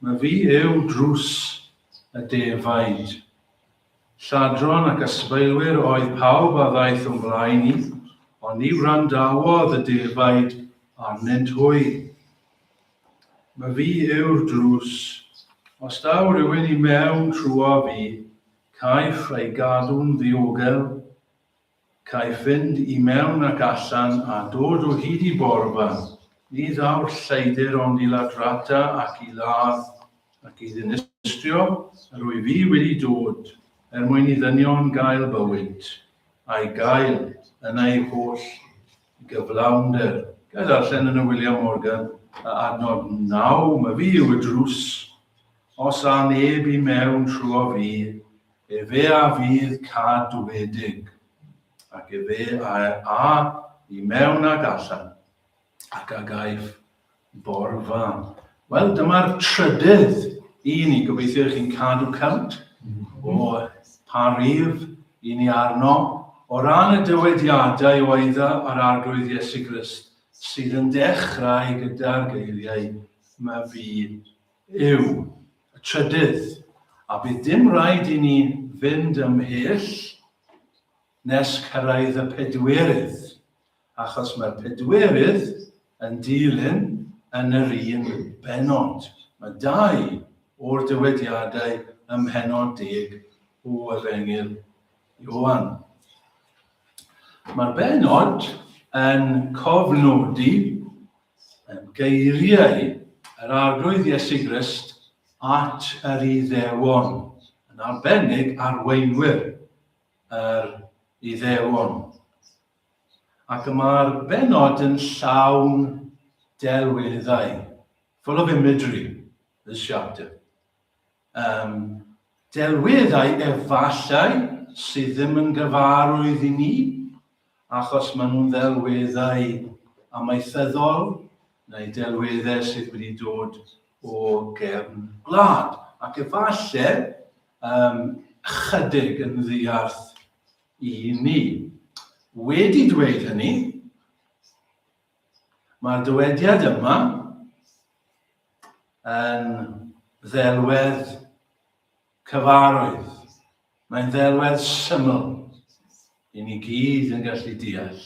Mae fi yw drws y defaid. Lladron ac ysbeilwyr oedd pawb a ddaeth o'n blaen i, ond ni wrandawodd y defaid arnynt hwy. Mae fi yw'r drws. Os daw rhywun i mewn trwyo fi, caiff ei gadw'n ddiogel. Caiff fynd i mewn ac allan a dod o hyd i borfa. Ni ddaw'r lleidr ond i ladrata ac i ladd, ac i ddinistrio, yr wyf fi wedi dod, er mwyn i ddynion gael bywyd, a'i gael yn ei holl gyflawnder. Ga i ddarllen yn y William Morgan a adnod naw, Myfi yw y drws, os â neb i mewn trwyddo fi, Efe a fydd cadwedig, ac efe a a i mewn ac allan, ac a gaiff borfa. Wel, dyma'r trydydd i ni. Gobeithio i chi'n cadw cant o pa rif i ni arno. O ran y dywediadau o eidda a'r arglwydd Iesu Grist, sydd yn dechrau gyda'r geiriau, Mae fi yw y trydydd, a bydd dim rhaid i ni fynd ymhell nes cyrraedd y pedwerydd, achos mae'r pedwerydd yn dilyn yn yr un bennod. Mae dau o'r dywediadau ym mhennod deg o Efengyl Ioan. Mae'r bennod yn cofnodi Yn geiriau yr Arglwydd Iesu Grist at yr Iddewon, yn arbennig arweinwyr yr Iddewon. Ac y mae'r benod yn llawn delweddau, full of imagery, this chapter. Um, delwyd ai efallai sydd ddim yn gyfarwydd i ni, achos maen nhw'n ddelweddau amaethyddol neu delweddau sydd wedi dod o gefn gwlad. Ac efallai um, chydig yn ddiarth i ni. Wedi dweud hynny, mae'r dywediad yma yn ddelwedd cyfarwydd. Mae'n ddelwedd syml i ni gyd yn gallu deall.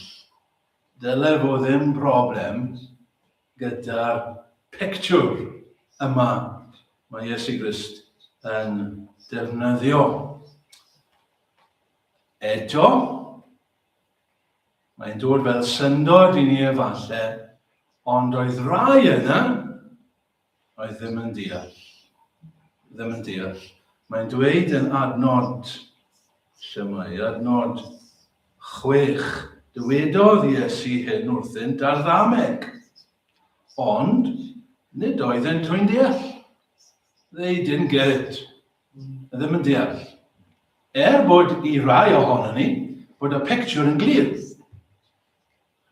Dyle fo ddim broblem gyda'r pictiwr yma mae Iesu Grist yn defnyddio. Eto, Mae'n dod fel syndod i ni efalle, ond oedd rai yna oedd ddim yn deall. Ddim yn deall. Mae'n dweud yn adnod, lle mae adnod chwech, dywedodd Iesu hyn wrthynt ar ddameg, ond nid oeddent yn deall. They didn't get it. ddim yn deall. Er bod i rai ohonon ni bod y pictiwr yn glir.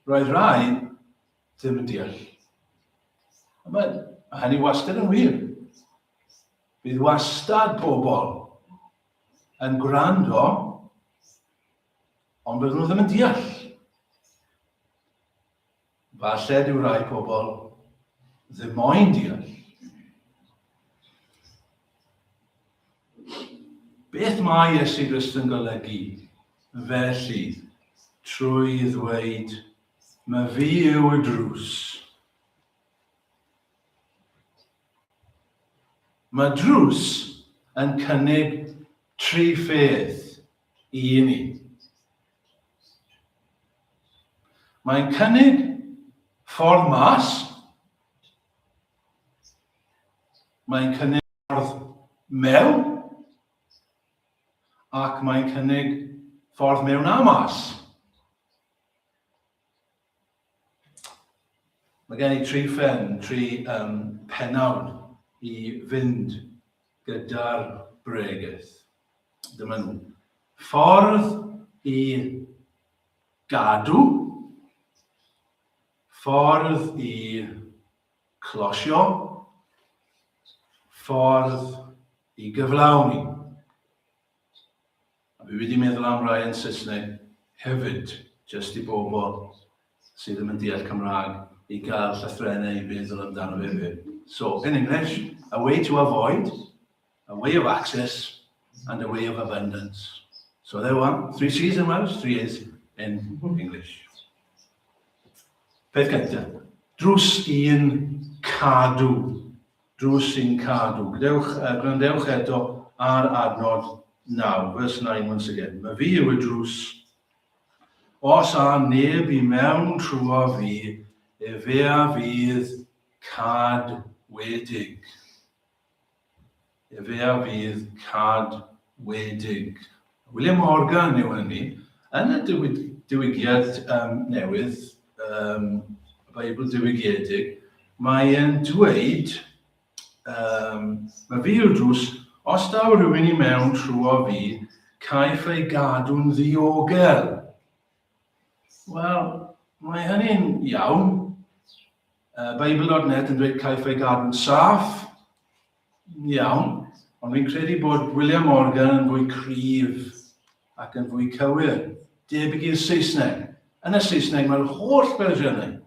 Roedd rai ddim yn deall. Ond mae, mae hynny wastad yn wir. Bydd wastad pobl yn gwrando, ond byddwn nhw ddim yn deall. Falle dyw rai pobl ddim moyn deall. Beth mae Iesu Grist yn golygu felly trwy ddweud, mae fi yw y drws. Mae drws yn cynnig tri pheth i ni. Mae'n cynnig ffordd mas. Mae'n cynnig ffordd mewn. Ac mae'n cynnig ffordd mewn a mas. Mae gen i tri phen, tri um, penawd i fynd gyda'r bregeth. Dyma nhw. Ffordd i gadw, ffordd i closio, ffordd i gyflawni. A fi wedi meddwl am rai yn Saesneg hefyd, jyst i bobl sydd ddim yn deall Cymraeg i gael llythrennau i feddwl amdano fe hefyd. So, in English, a way to avoid, a way of access, and a way of abundance. So there we are, three C's in Welsh, three A's in English. Peth gyntaf, drws un cadw. Drws sy'n cadw. Gdewch, yy, gwrandewch eto ar adnod naw, verse 9 once again. Mae fi yw y drws. Os a neb i mewn trwa fi, efe a fydd cad wedig. Efe a fydd cad wedig. William Morgan yw hynny. Yn y Diwygiad Newydd, y Beibl Diwygiedig, mae'n dweud, Mae fi yw'r drws, os daw rhywun i mewn trwyo fi, caiff ei gadw'n ddiogel. Wel, mae hynny'n iawn. Beibl.net yn dweud caiff ei gadw'n saff. Iawn, ond fi'n credu bod William Morgan yn fwy cryf ac yn fwy cywir, debyg i'r Saesneg. Yn y Saesneg mae'r holl fersiynau,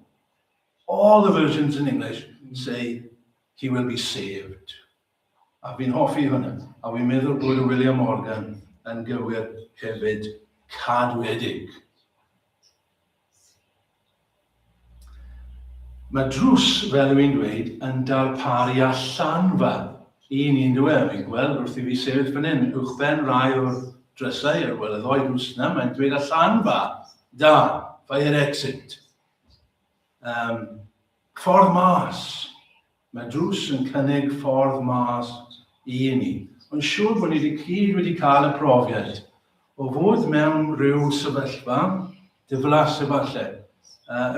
all the versions in English say he will be saved. A fi'n hoffi hwnna. A fi'n meddwl bod y William Morgan yn gywir hefyd cadwedig. Mae drws, fel yw i'n dweud, yn darparu allanfa i ni, yndyw e? Mae'n gweld wrth i fi sefyll fan hyn, uwchben rai o'r drysau, ar gweld y ddoi drws yna, mae'n dweud allanfa, da, fire exit. Um, ffordd mas, Mae drws yn cynnig ffordd mas i ni. Mae'n siŵr bod ni i gyd wedi cael y profiad o fod mewn rhyw sefyllfa diflas efallai,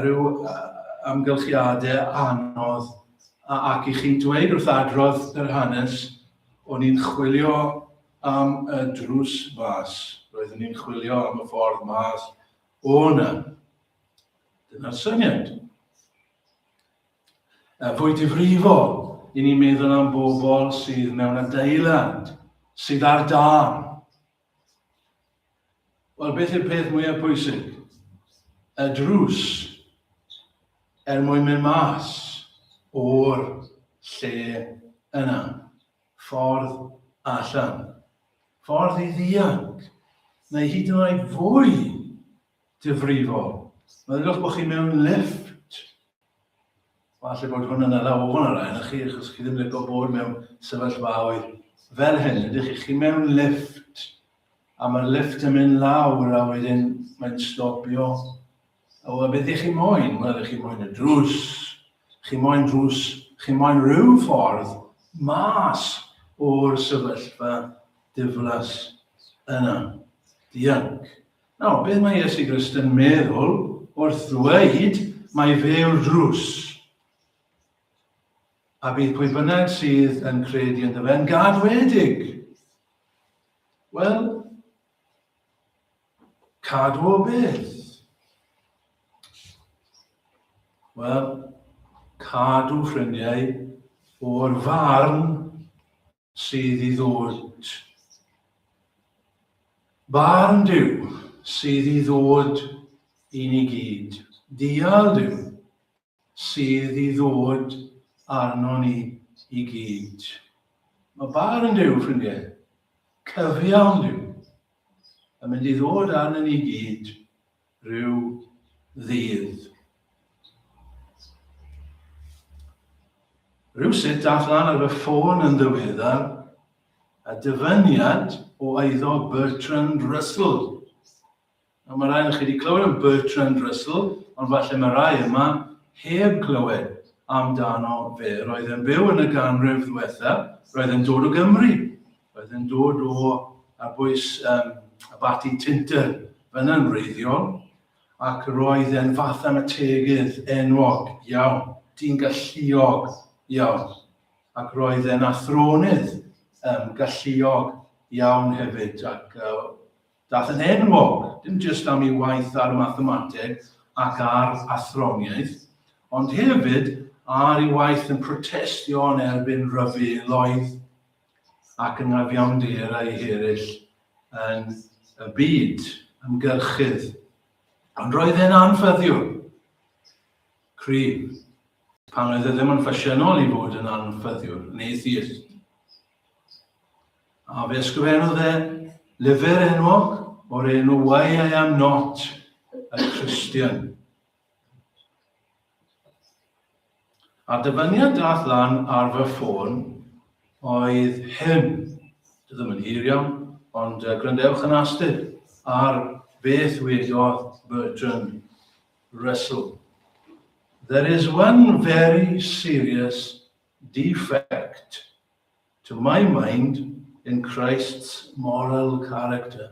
rhyw amgylchiadau anodd ac i chi dweud wrth adrodd yr hanes, o'n i'n chwilio am y drws fas, roeddwn i'n chwilio am y ffordd mas o 'na. Dyna'r syniad. fwy difrifol, i ni'n meddwl am bobl sydd mewn adeilad, sydd ar dân. Wel, beth yw'r peth mwyaf pwysig? Y drws er mwyn mynd mas o'r lle yna. Ffordd allan. Ffordd i ddianc, neu hyd yn oed fwy difrifol. Meddylwch bod chi mewn lifft. Falle bod hwn yn ala ofn ar rai chi, achos chi ddim wedi bod mewn sefyllfaoedd fel hyn. Ydych chi, chi mewn lifft, a mae'r lifft yn mynd lawr, a wedyn mae'n stopio. O, a beth ych chi moyn? Wel, ych chi moyn y drws. Chi moyn drws, chi moyn rhyw ffordd mas o'r sefyllfa diflas yna. Dianc. Nawr, beth mae Iesu Grist yn meddwl wrth ddweud mae fe yw'r drws? A bydd pwy bynnag sydd yn credu ynddo fe yn gadwedig. Wel, cadw o beth? Wel, cadw ffrindiau o'r farn sydd i ddod. Barn Duw sydd i ddod i ni gyd. Dial Duw sydd i ddod arno ni i gyd. Mae barn Duw, ffrindiau, cyfiawn Duw, yn mynd i ddod arno ni gyd Rhyw ddydd. Rhywsut dath lan ar y ffôn yn ddiweddar a dyfyniad o eiddo Bertrand Russell. A mae rhai chi wedi clywed am Bertrand Russell, ond falle mae rhai yma heb glywed amdano fe. Roedd yn byw yn y ganrif ddiwetha, roedd yn dod o Gymru. Oedd yn dod o ar bwys um, y bati Tinter fyna'n wreiddiol, ac roedd e'n fath am y tegydd enwog iawn, dyn galluog iawn, ac roedd e'n athronydd um, galluog iawn hefyd, ac uh, dath yn enwog, dim jyst am ei waith ar y mathemateg ac ar athroniaeth, ond hefyd ar ei waith yn protestio yn erbyn rhyfeloedd ac yn afiawnder eraill yn y byd ymgyrchydd. Ond roedd e'n anffyddiwr. Cryf. Pan oedd e ddim yn ffasiynol i fod yn anffyddiwr, yn atheist. A fe ysgrifennodd e lyfr enwog o'r enw Why I Am Not a Christian. A'r dyfyniad daeth lan ar fy ffôn oedd hyn, dwi ddim yn hir iawn, ond uh, gwrandewch yn astud ar beth wedodd Bertrand Russell. There is one very serious defect to my mind in Christ's moral character.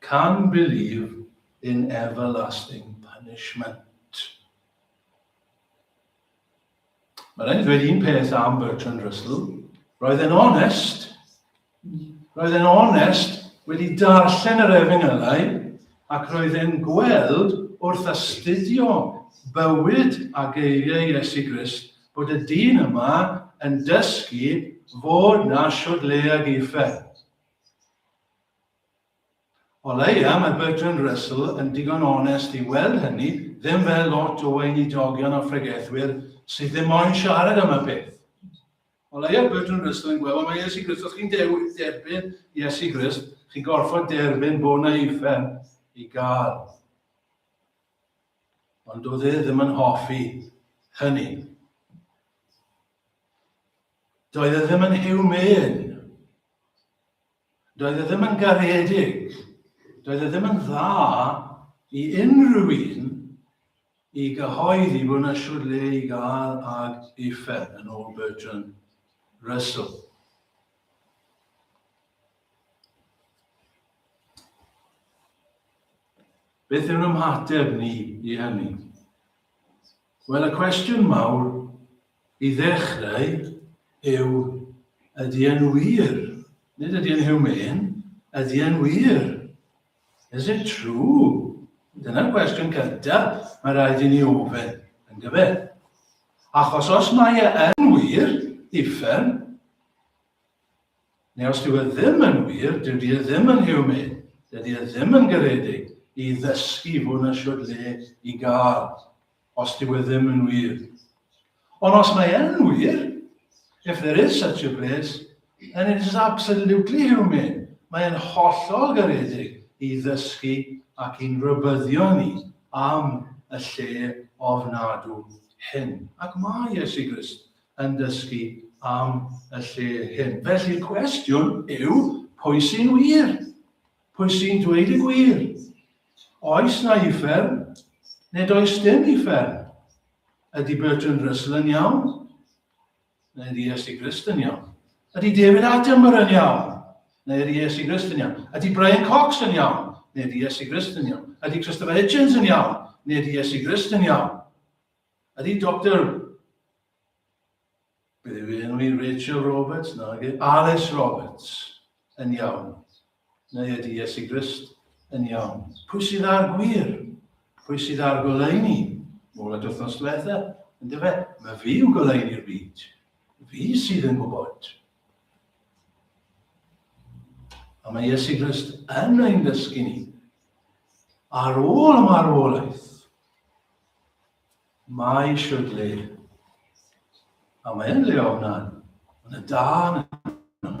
Can believe in everlasting punishment. Mae rhaid i ddweud un peth am Bertrand Russell. Roedd e'n onest. Roedd e'n onest wedi darllen yr efengylau ac roedd e'n gweld wrth astudio bywyd a geiriau Iesu Grist bod y dyn yma yn dysgu fod na siwrleag uffern. O leia, mae Bertrand Russell yn digon onest i weld hynny ddim fel lot o weinidogion a phregethwyr sydd ddim moyn siarad am y peth. O leia, Bertrand Russell yn gweld, wel mae Iesu Grist, os chi'n derbyn Iesu Grist, chi'n gorfod derbyn bod na uffern i gael. Ond doedd e ddim yn hoffi hynny. Doedd e ddim yn hiwmyn. Doedd e ddim yn garedig, doedd e ddim yn dda i unrhyw un i gyhoeddi bod yna siwrd le i gael ag uffern yn ôl Bertrand Russell. Beth yw'n ymhateb ni i hynny? Wel, y cwestiwn mawr i ddechrau yw, ydy e'n wir? Nid ydy e'n humane, ydy e'n wir? Is it true? Dyna'r cwestiwn cyntaf mae rhaid i ni ofyn, yn gyfer. Achos os mae e yn wir, uffern, Neu os dyw e ddim yn wir, dyw di e ddim yn human, dydy e ddim yn garedig i ddysgu fod na siwr le i gael, os dyw e ddim yn wir. Ond os mae e'n wir, if there is such a place, then it is absolutely human. Mae'n hollol garedig i ddysgu ac i'n rybyddio ni am y lle ofnadw hyn. Ac mae Iesu Grist yn dysgu am y lle hyn. Felly'r cwestiwn yw, pwy sy'n wir? Pwy sy'n dweud y gwir? Oes na uffern, neu does dim uffern? Ydy Bertrand Russell yn iawn? Neu ydy Iesu Grist yn iawn? Ydy David Attenborough yn iawn? Neu ydy Iesu Grist yn iawn? Ydy Brian Cox yn iawn? Neu ydy Iesu Grist yn iawn? Ydy Christopher Hitchens yn iawn? Neu ydy Iesu Grist yn iawn? Ydy Doctor... beth yw ei enw hi, Rachel Roberts? Nage, Alys Roberts yn iawn? Neu ydy Iesu Grist yn iawn? Pwy sydd ar gwir? Pwy sydd ar goleuni? Mol y dwthnos diwetha, yn dyfe? Mae fi yw goleuni'r byd. Fi sydd yn gwybod. A mae Iesu Grist yn ein dysgu ni ar ôl y marwolaeth, Mae siwrd le. A mae yn le ofnan. Mae yna dan yna.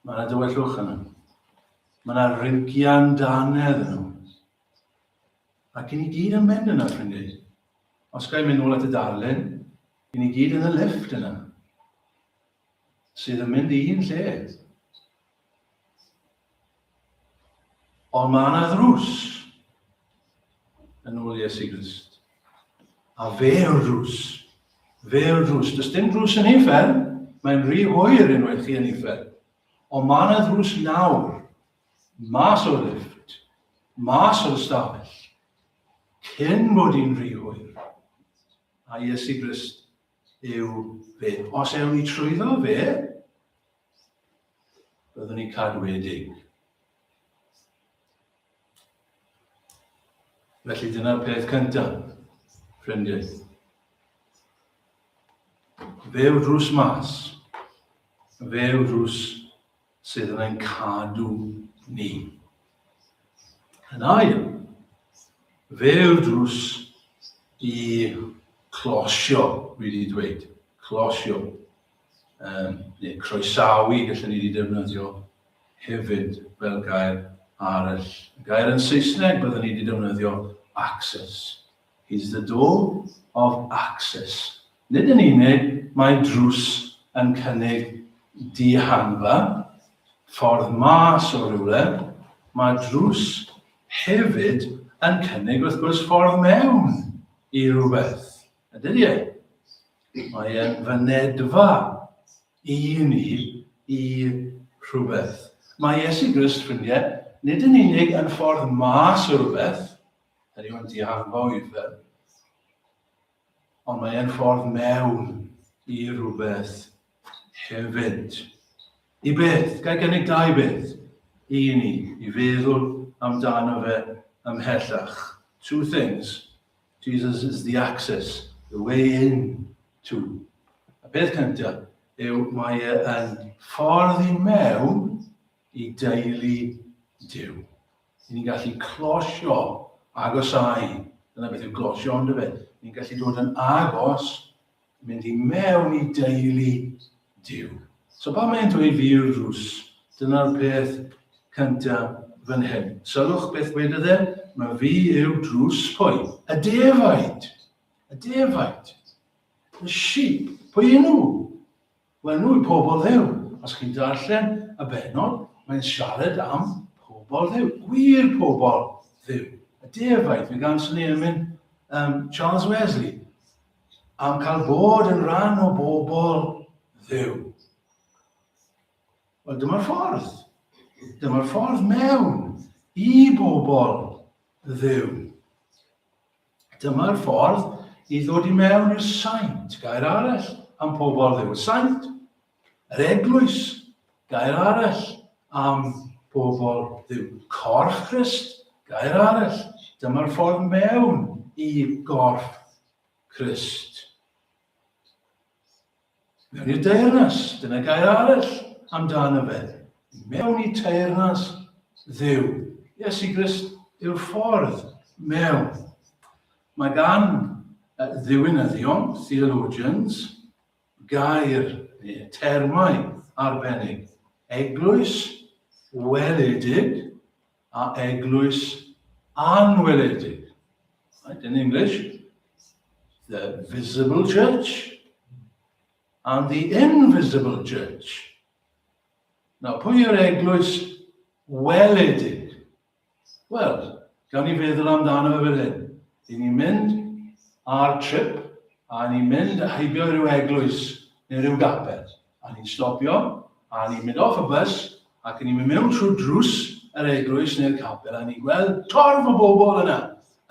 Mae yna dywellwch yna. Mae yna rygian danedd yna. Ac i ni gyd yn mynd yna, ffrindiau. Os gael mynd nôl at y darlun, i ni gyd yn y lift yna. sydd yn mynd i'n lle. Ond mae yna ddrws yn ôl Iesu Grist. A fe yw'r drws. Fe yw'r drws. Does dim drws yn ufer, mae'n rhy hwyr unwaith chi yn ufer. Ond mae yna ddrws nawr, mas o'r lift, mas o'r stafell, cyn bod i'n rhy hwyr. A Iesu Grist yw fe. Os ewn ni trwyddo fe, byddwn ni'n cadwedig. Felly dyna'r peth cyntaf, ffrindiau. Fe yw drws mas. Fe yw drws sydd yn ein cadw ni. Yn ail, fe yw'r drws i closio, dwi wedi dweud, closio, um, neu croesawu, gallwn ni wedi defnyddio hefyd fel gair arall. Gair yn Saesneg byddwn ni wedi defnyddio access. Is the door of access. Nid yn unig mae drws yn cynnig dihangfa, ffordd mas o rywle, mae drws hefyd yn cynnig wrth gwrs ffordd mewn i rhywbeth. A dydy e? Mae e'n fynedfa i ni i rhywbeth. Mae Iesu Grist, ffrindiau, nid yn unig yn ffordd mas o rhywbeth, Yr yw yn diarfo i'r fel. Ond mae e'n ffordd mewn i rhywbeth hefyd. I beth? Gai gynnig dau beth i ni i feddwl amdano fe ymhellach. Two things. Jesus is the access, the way in to. A beth cyntaf yw mae e yn ffordd i mewn i deulu Dyw. Ni'n ni'n gallu closio, agosau, dyna beth yw closio ond fe. Ni'n gallu dod yn agos, mynd i mewn i deulu Dyw. So pan mae'n dweud firws, dyna'r peth cyntaf fan hyn. Sylwch beth wedodd e, mae fi yw drws pwy? Y defaid. Y defaid. The sheep. Pwy yn nhw? Wel nhw yw pobl Dduw. Os chi'n darllen y benod, mae'n siarad am pobl Dduw, gwir pobl Dduw. Y defaid, fe gan sy'n ei ymyn um, Charles Wesley, am cael bod yn rhan o bobl ddew. Wel, dyma'r ffordd. Dyma'r ffordd mewn i bobl ddew. Dyma'r ffordd i ddod i mewn i'r saint, gair arall am pobl ddew, y saint. Yr eglwys, gair arall am pobl ddew. Corff Christ, gair arall. Dyma'r ffordd mewn i gorff Christ. Mewn i'r deyrnas, dyna gair arall amdan yfed. Mewn i teyrnas ddew. Iesu Grist yw'r ffordd mewn. Mae gan ddiwinyddion, theologians, gair neu termau arbennig. Eglwys weledig, a eglwys anweledig. Right, in English, the visible church and the invisible church. Nawr, pwy yw'r eglwys weledig? Wel, gan i feddwl amdano fe fel hyn. I ni'n mynd ar trip a ni'n mynd a heibio rhyw eglwys neu rhyw gaped. A ni'n stopio, a ni'n mynd off y bws, ac a ni'n mynd mewn trwy drws yr eglwys neu'r capel, a ni'n gweld torf o bobl yna,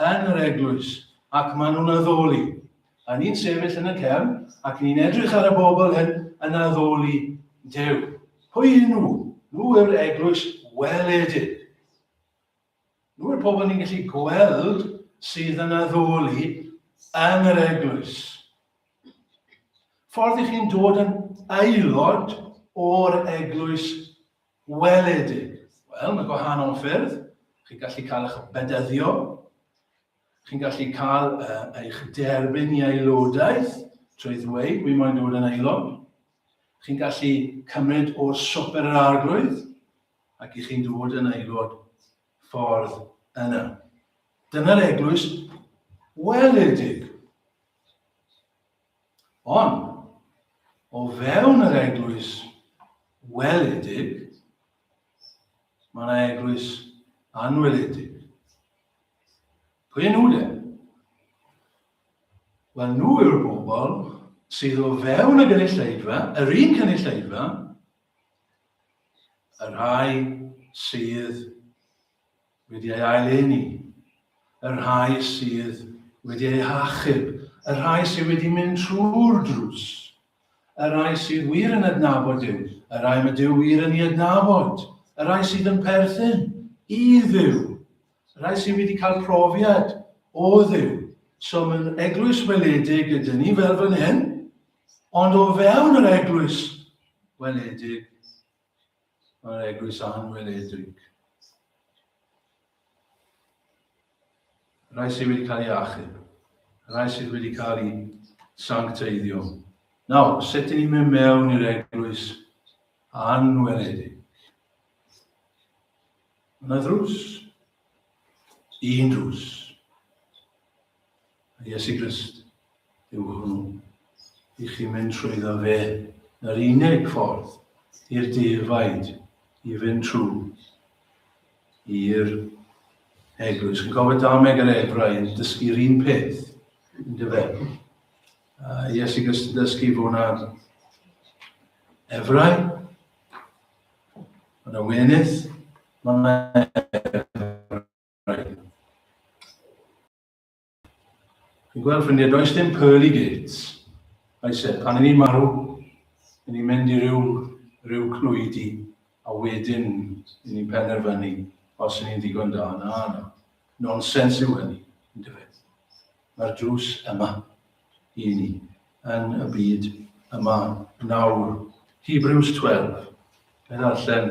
yn yr eglwys, ac maen nhw'n addoli. A ni'n sefyll yn y cefn, ac ni'n edrych ar y bobl hyn yn addoli Duw. Pwy yn nhw? Nhw yw'r eglwys weledig. Yw'r pobl ni'n gallu gweld sydd yn addoli yn yr eglwys? Ffordd i chi'n dod yn aelod o'r eglwys weledig? Wel, mae gwahanol ffyrdd. Chi'n gallu cael eich bedyddio. Chi'n gallu cael uh, eich derbyn i aelodaeth trwy ddweud, wi moyn dod yn aelod. Chi'n gallu cymryd o'r swper yr arglwydd. ac i chi'n dod yn aelod ffordd yna. Dyna'r eglwys weledig. Ond, o fewn yr eglwys weledig, mae yna eglwys anweledig. Pwy nhw de? Wel, nhw yw'r bobl sydd o fewn y gynulleidfa, yr un cynulleidfa, Y rhai sydd wedi ei ail-eni, y rhai sydd wedi ei hachub, y rhai sydd wedi mynd trwy'r drws, y rhai sydd wir yn adnabod Duw, y rhai mae Duw wir yn ei adnabod, y rhai sydd yn perthyn i Dduw, Y rhai sydd wedi cael profiad o ddiw. So mae'n eglwys weledig gyda ni fel fan hyn, ond o fewn yr eglwys weledig, mae'r eglwys anweledig. Rhai sydd wedi cael ei achub, rhai sydd wedi cael ei sancteiddio. Nawr, sut ni'n mynd mewn i'r eglwys anweledig? Mae drws. Un drws. A Iesu Grist yw hwnnw. I chi mynd trwy ddo fe, yr unig ffordd i'r defaid i fynd trwy i'r eglwys. Yn cofio dameg yr efrau yn dysgu'r un peth, yn dyfe. Uh, Iesu Grist yn dysgu fo wna'r efrau, Yn y wenydd, mae Fi'n gweld ffrindiau, does dim pearly gates. Oes e, pan i ni'n marw, i ni'n mynd i ryw, ryw clwyd i, a wedyn i ni'n penderfynu os i ni'n ddigon da. Na, na. Nonsens yw hynny, yn dyfed. Mae'r drws yma, i ni yn y byd yma nawr. Hebrews 12. Fe ddarllen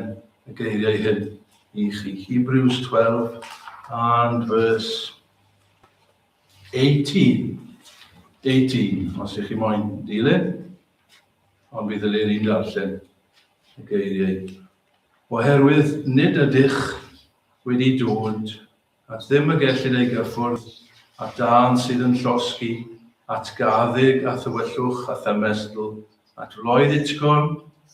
y geiriau hyn i chi. Hebrews 12 and verse 18. 18, os ych chi moyn dilyn, ond bydd y leir i'n darllen y geiriau. Oherwydd nid ydych wedi dod at ddim y gellid ei gyffwrdd, at dân sydd yn llosgi, at gaaddyg a thywyllwch a thymestl, at wloedd utgorn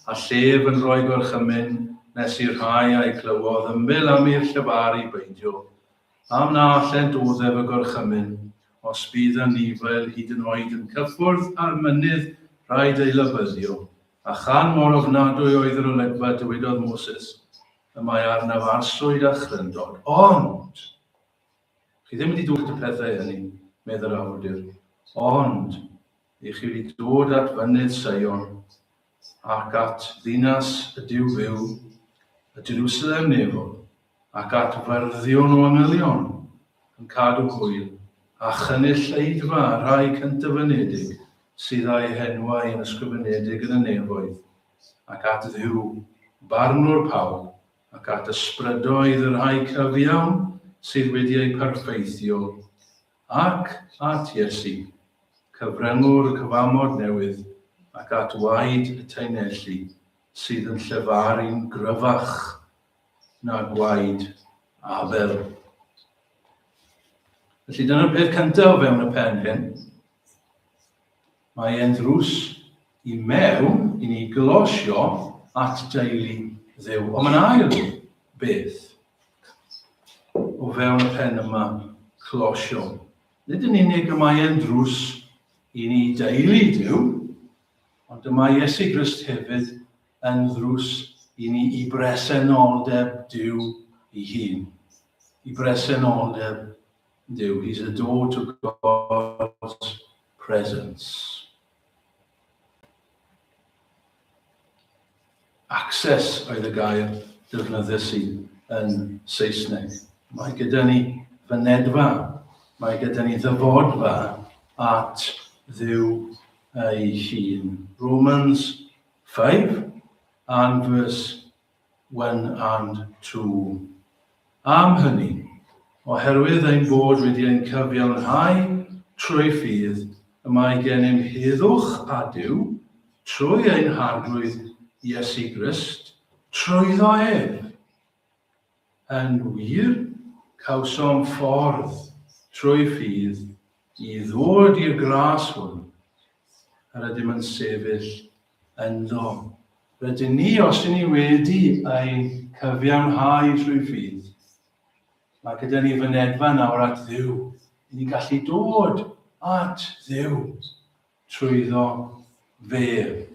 a llef yn rhoi gorchymyn nes i'r rhai a'i glywodd ymyl am i'r llefaru beidio, am na allent uddef y gorchymyn, os bydd anifail hyd yn oed yn cyffwrdd â'r mynydd rhaid ei labyddio, a chan mor ofnadwy oedd yr olygfa dywedodd Moses, y mae arnaf arswyd a chryndod, ond chi ddim wedi dwyllt y pethau hynny, medd yr awdur, ond i chi wedi dod at fynydd Seion, ac at ddinas y Duw fyw, y Jerusalem nefol, ac at fyrddio'n o angylion, yn cadw hwyl, a chynulleidfa y rhai cyntyfynedig sydd â'u henwau yn ysgrifenedig yn y nefoedd. ac at Dduw, Barnwr pawb, ac at ysbrydoedd y rhai cyfiawn sydd wedi eu perfeithio, ac at Iesu, cyfryngwr y cyfamod newydd, ac at waed y taenelli, sydd yn llefaru'n gryfach na gwaed Abel. Felly dyna'r peth cyntaf o fewn y pen hyn. Mae e'n ddrws i mewn i ni glosio at deulu Dduw. Ond mae'n ail beth o fewn y pen yma closio. Nid yn unig y mae e'n ddrws i ni deulu Duw, ond dyma Iesu Grist hefyd yn ddrws i ni i bresenoldeb Duw i hun, i bresenoldeb Duw, he's a door to God's presence. Access oedd y gair defnyddiais i yn Saesneg. Mae gyda ni fynedfa, mae gyda ni ddyfodfa at ddiw ei hun. Romans 5 and verse one and two. Am hynny, oherwydd ein bod wedi ein cyfiawnhau trwy ffydd y mae gennym heddwch a Duw, trwy ein Harglwydd Iesu Grist, trwyddo ef. Yn wir, cawsom ffordd trwy ffydd i ddod i'r gras hwn, yr ydym yn sefyll ynddo. Rydyn ni, os ydyn ni wedi ei cyfiawnhau trwy ffydd, mae gyda ni fynedfa nawr at Dduw. Yn ni'n gallu dod at Dduw trwyddo fe.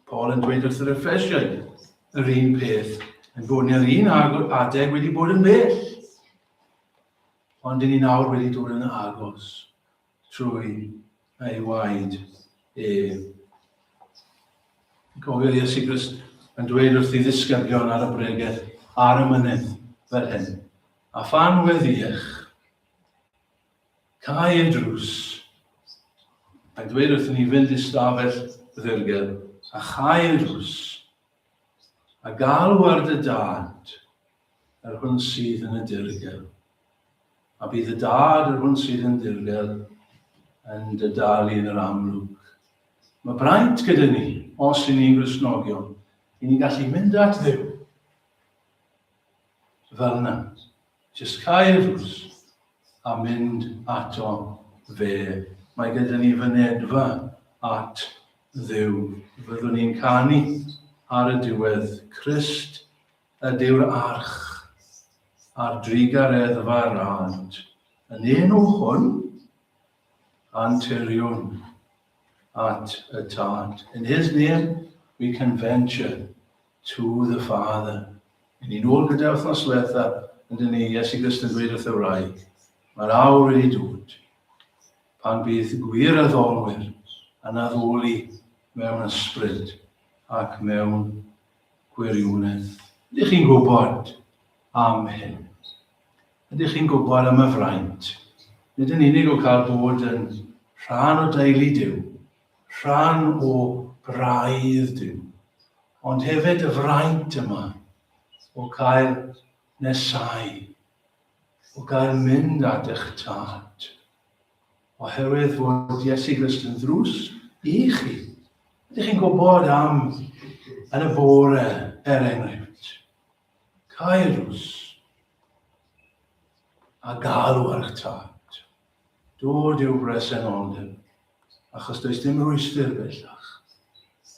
Paul yn dweud wrth yr Ephesiaid yr un peth, yn bod ni'r un adeg wedi bod yn bell, ond dyn ni nawr wedi dod yn agos. trwy ei waed ef. Cofio Iesu Grist yn dweud wrth i ddisgyblion ar y bregeth ar y mynydd fel hyn. A phan weddiech, cael ei drws, a dweud wrth ni fynd i stafell ddirgel, a chael ei drws, a galw ar dy dad, Yr hwn sydd yn y dirgel. A bydd y dad yr hwn sydd yn dirgel yn dy dalu yn yr amlwg. Mae braint gyda ni, os i ni'n grisnogion, i ni gallu mynd at ddew. Fel yna, jyst cael drws a mynd ato fe. Mae gyda ni fynedfa at ddew. Fyddwn ni'n canu ar y diwedd, Christ Ydyw'r arch a'r drugareddfa'r ant yn un o hwn? Anteriwn at y Tad. In His name we can venture to the Father. Yn un ôl gyda wythnos diwetha, yn dyn ni, Iesu Grist yn dweud wrth y wraig, mae'r awr wedi dod pan bydd gwir addolwyr yn addoli mewn ysbryd ac mewn Gwirionedd. Ydych chi'n gwybod am hyn? Ydych chi'n gwybod am y fraint? Nid yn unig o gael bod yn rhan o deulu Duw, rhan o braidd Duw, ond hefyd y fraint yma o gael nesau, o gael mynd at eich tad. Oherwydd fod Iesu Grist yn ddrws i chi. Ydych chi'n gwybod am yn y bore, er enghraifft, cairws a galw ar eich tad. Dod i'w bresenoldeb, achos does dim rwystyr bellach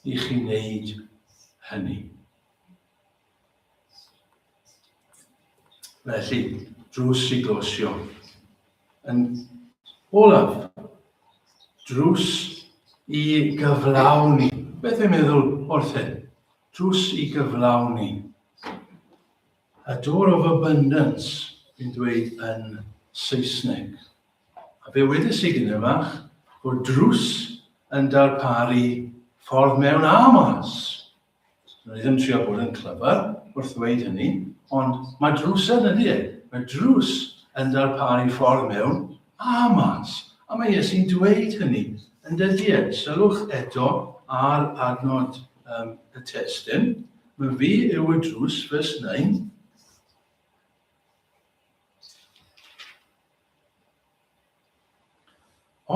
i chi wneud hynny. Felly, drws i glosio. Yn olaf, drws i gyflawni. Beth yw'n meddwl wrth hyn? Drws i gyflawni. A door of abundance, fi'n dweud yn Saesneg. A fe wedys i gyda fach, bod drws yn darparu ffordd mewn a mas. Dwi ddim trio bod yn clyfar wrth ddweud hynny, ond mae drws yn ydy e. Mae drws yn darparu ffordd mewn a mas, a mae Iesu'n dweud hynny yn dydy e. Sylwch eto ar adnod um, y testyn. Mae fi yw y drws, vers 9,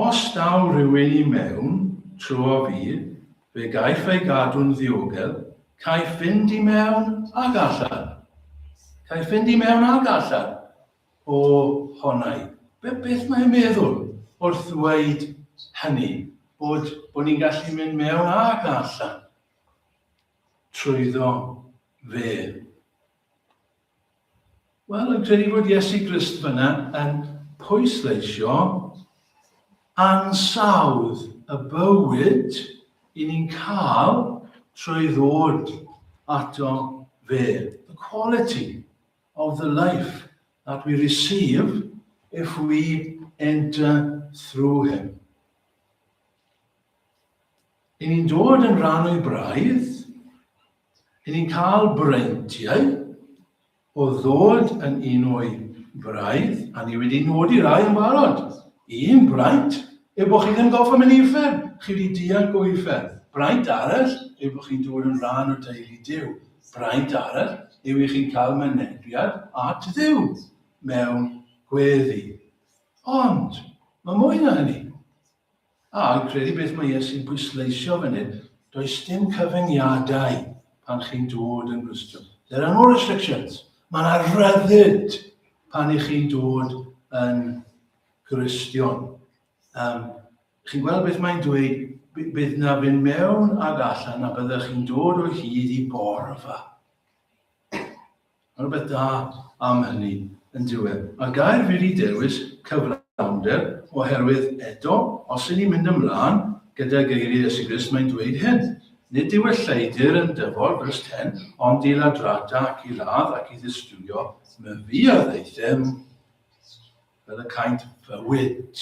Os daw rhywun i mewn tro o fudd, fe gaiff ei gadw'n ddiogel, caiff fynd i mewn ac allan. Caiff fynd i mewn ac allan o honai. Be, beth mae'n meddwl wrth ddweud hynny, bod, bod ni'n gallu mynd mewn ac allan trwyddo fe. Wel, yn credu bod Iesu Grist fyna yn pwysleisio ansawdd y bywyd i ni'n cael trwy ddod ato fe. The quality of the life that we receive if we enter through him. I ni'n dod yn rhan o'i braidd, Rydyn ni'n cael breintiau o ddod yn un o'i braidd, a ni wedi nodi rai yn barod. Un braint yw bod chi ddim gorfod mynd i uffern, chi wedi dianc o uffern. Braint arall yw bod chi'n dod yn rhan o deulu Dyw. Braint arall yw i chi'n cael mynegiad at Dduw mewn gweddi. Ond, mae mwy na hynny. A fi'n credu beth mae Iesu'n pwysleisio fan hyn, does dim cyfyngiadau pan chi'n dod yn Gristion. There are no restrictions. Mae yna ryddid pan i chi'n dod yn Gristion. Um, chi'n gweld beth mae'n dweud, bydd na fynd mewn ag allan a byddwch chi'n dod o hyd i borfa. Mae rhywbeth da am hynny, yn dyw e. Mae'r gair wedi dewis cyflawnder oherwydd, eto, os y'n ni'n mynd ymlaen gyda geiriau Iesu Grist, mae'n dweud hyn, Nid yw y lleidr yn dyfod, vers 10, ond i ladrata ac i ladd ac i ddistywio, my fuodd ei ddim fel y caint fywyd.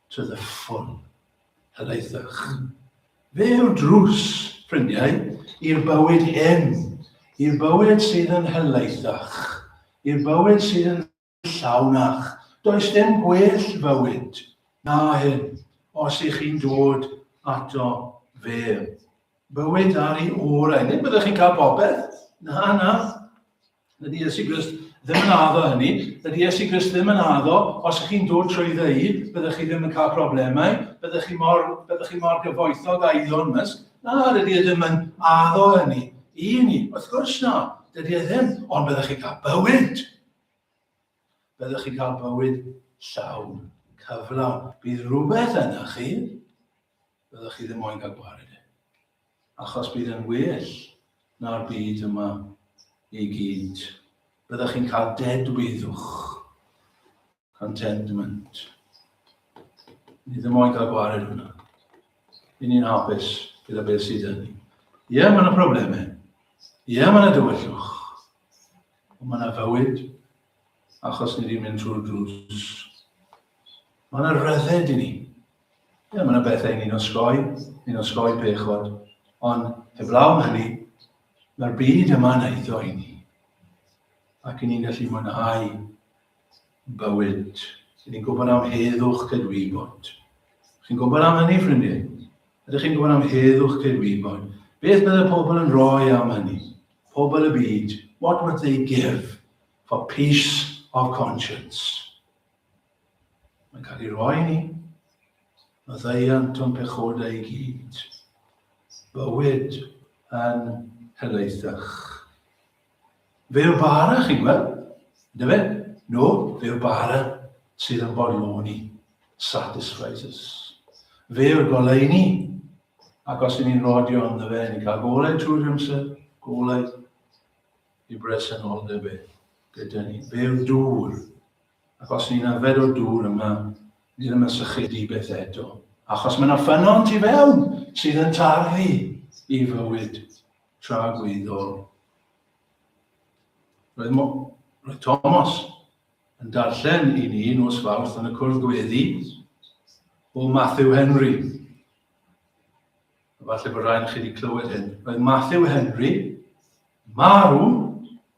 to the full. Helaethwch. Fe yw'r drws, ffrindiau, i'r bywyd hyn, i'r bywyd sydd yn helaethach, i'r bywyd sydd yn llawnach. Does dim gwell fywyd na hyn os ych chi'n dod ato fe. Bywyd ar ei orau. Nid byddwch chi'n cael popeth. Na, na. Dydy Iesu Grist ddim yn addo hynny. Dydy Iesu Grist ddim yn addo, os ych chi'n dod trwy ddeud, byddwch chi ddim yn cael problemau, byddwch chi mor, byddwch chi mor gyfoethog a Elon Musk. Na, dydy e ddim yn addo hynny i ni. Wrth gwrs na, dydy e ddim, ond byddwch chi cael bywyd. Byddwch chi cael bywyd llawn, cyflawn. Bydd rhywbeth yna chi, Byddwch chi ddim moyn cael gwared e. Achos bydd e'n well na'r byd yma i gyd. Byddwch chi'n cael dedwyddwch. Contentment. Ni ddim moyn cael gwared hwnna. I ni'n hapus gyda beth sydd yn ni. Ie, mae yna problemau. Ie, mae yna dywyllwch. Ond mae yna fywyd achos ni wedi mynd trwy'r drws. Mae yna rydded i ni. Ie, mae'n beth ein ni'n osgoi, ni'n osgoi pechod. Ond heblaw hynny, mae'r byd yma yn eitho i ni. Ac i ni'n gallu mwynhau bywyd. I ni'n gwybod am heddwch cydwybod. Chi'n gwybod am hynny, ffrindiau? Ydych chi'n gwybod am heddwch cydwybod? Beth bydd y pobl yn rhoi am hynny? Pobl y byd, what would they give for peace of conscience? Mae'n cael ei roi ni. Maddeuant o'n pechodau i gyd. Bywyd yn helaethach. Fe yw'r bara, chi'n gweld? Ydy fe? No, fe yw'r bara sydd yn bodloni. Satisfies us. Fe yw'r goleuni. Ac os ydyn ni'n rodio ynddo fe, ni'n cael golau trwy'r amser, golau i bresenoldeb e gyda ni. Fe yw'r dŵr Ac os ni'n yfed o'r dŵr yma, ni ddim yn sychu di beth eto. Achos mae yna ffynon tu fewn sydd yn tarfu i fywyd tra gwyddol. Roedd, roedd Thomas yn darllen i ni nos fawrth yn y cwrdd gweddi o Matthew Henry. Falle bod rhaid chi wedi clywed hyn. Roedd Matthew Henry marw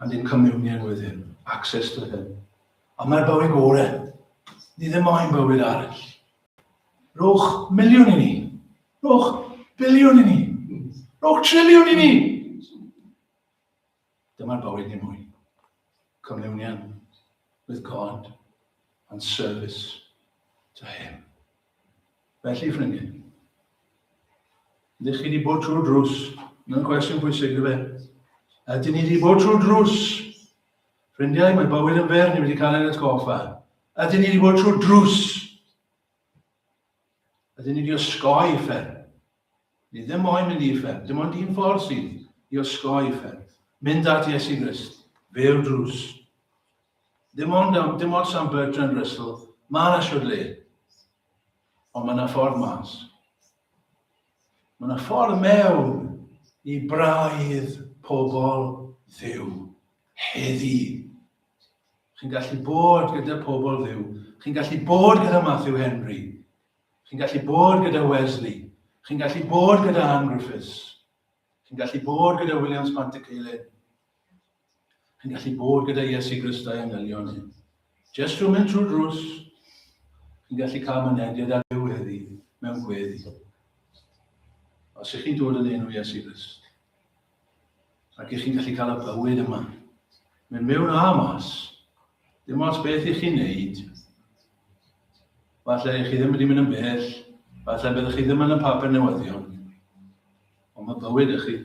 And in communion with him. Access to him. Ond mae'r bywyd gore. Ni ddim moyn bywyd arall. Rhowch miliwn i ni. Rhowch biliwn i ni. Rhowch triliwn i ni. Dyma'r bywyd ni mwy. Communion with God and service to him. Felly, ffrindiau, ydych chi wedi bod trwy'r drws? Mae'n cwestiwn bwysig, dwi fe. Ydyn ni wedi bod trwy'r drws? Ffrindiau, mae bywyd yn fer, ni wedi cael ein atgoffa. Ydyn ni wedi bod trwy'r drws? Ydyn ni wedi osgoi ffer? Ni ddim moyn mynd i ffer, dim ond un ffordd sydd i osgoi ffer. Mynd at Iesu Grist, fe'r drws. Dim ond am, dim ots am Bertrand Russell, ma' 'na siwr le. Ond ma' 'na ffordd mas. Ma' 'na ffordd mewn i braidd pobl Dduw heddi. Chi'n gallu bod gyda pobl Dduw. Chi'n gallu bod gyda Matthew Henry. Chi'n gallu bod gyda Wesley. Chi'n gallu bod gyda Anne Griffiths. Chi'n gallu bod gyda Williams Pantyceilin. Chi'n gallu bod gyda Iesu Grist a'i angylion ni. Just rhwng mynd trwy drws, chi'n gallu cael mynediad ar Dduw heddi mewn gweddi. Os ych chi'n dod yn enw Iesu Grist, ac ych chi'n gallu cael y bywyd yma, mynd mewn a mas, Dim ots beth i chi wneud, falle i chi ddim wedi mynd yn bell, falle byddwch chi ddim yn y papur newyddion, ond mae bywyd ych chi,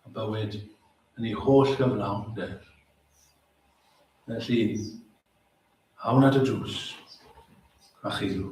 a bywyd yn ei holl gyflawn, de. Felly, awn at y drws, a chilw.